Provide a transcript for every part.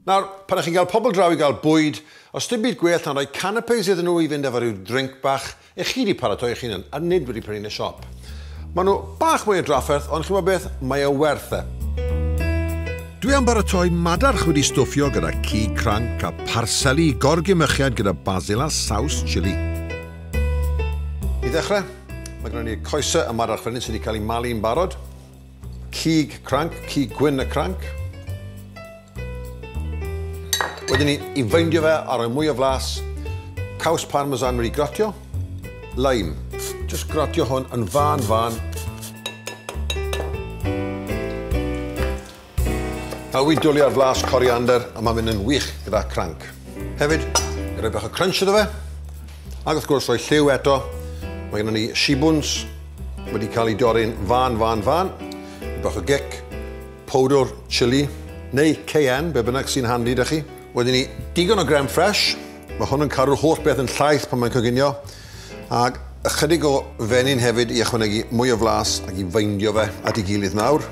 Nawr, pan ych chi'n cael pobl draw i gael bwyd, os dim byd gwell na rhoi canapes iddyn nhw i fynd efo rhyw drinc bach, ych chi wedi paratoi eich hunan, a nid wedi prynu yn y siop. Maen nhw bach mwy o drafferth, ond chi'n gwybod beth, mae o werth e. Dwi am baratoi madarch wedi stwffio gyda cig cranc a pharseli i gorgymechiad gyda basil a saws chili. I ddechrau, mae gennym ni'r coesau y mae'r archfynydd sydd wedi cael ei malu yn barod. Cig cranc, cig gwyn y cranc. Wedyn ni, i feindio fe a rhoi mwy o flas, caws parmesan wedi gratio, lime. Just gratio hwn yn fan fan Awi dwli ar flas coriander a mae'n mynd yn wych gyda cranc. Hefyd, i roi bach o crunch iddo fe. Ac wrth gwrs rhoi lliw eto. Mae gennym ni shibwns wedi cael ei dorri'n fan, fan, fan. I bach o gic, powdwr chili, neu cayenne, be bynnag sy'n handi da chi. Wedyn ni, digon o grem ffresh. Mae hwn yn cadw'r holl beth yn llaith pan mae'n coginio. Ac ychydig o fenyn hefyd i ychwanegu mwy o flas ac i feindio fe at ei gilydd nawr.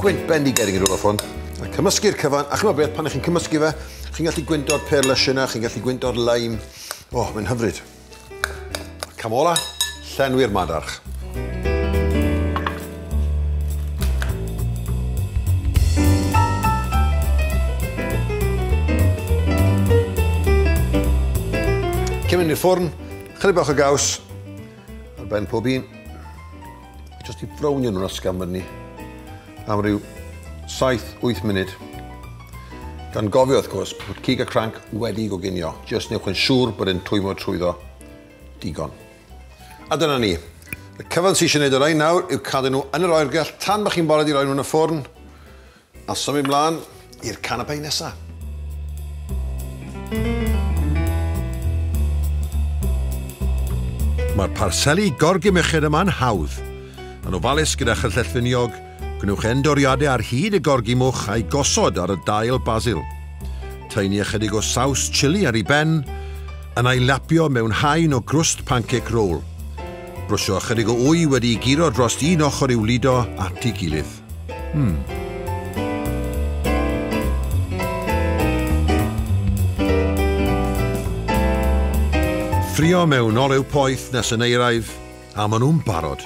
Gwynt bendigedig yn rhywbeth hwn. A cymysgu'r cyfan, a chymod beth, pan ych chi'n cymysgu fe, chi'n gallu gwynto'r pear lush yna, chi'n gallu gwynto'r lime. O, oh, mae'n hyfryd. Cam ola, llenwi'r madarch. Cymryd i'r ffwrn, chydig bach o gaws, Ar ben pob un. Just i brownio nhw'n ysgafn fyny am ryw 7-8 munud. Gan gofio, wrth gwrs, bod cig a cranc wedi goginio. Just newch yn siŵr bod yn twymo trwyddo digon. A dyna ni. Y cyfan sy'n eisiau gwneud o rhain nawr yw cadw nhw yn yr oergell tan bod chi'n bored i roi nhw yn y ffwrn. A symud mlaen i'r canapé nesa. Mae'r parseli gorgymecher yma'n hawdd. Yn ofalus gyda chyllell finiog, gwnewch endoriadau ar hyd y gorgymwch a'i gosod ar y dail basil. Taenu ychydig o saws chili ar ei ben, yn a'i lapio mewn haen o grwst pancake roll. Brwsio ychydig o wy wedi'i guro drost un ochr i'w ludo at ei gilydd. Hmm. Ffrio mewn olew poeth nes yn eiraidd, a maen nhw'n barod.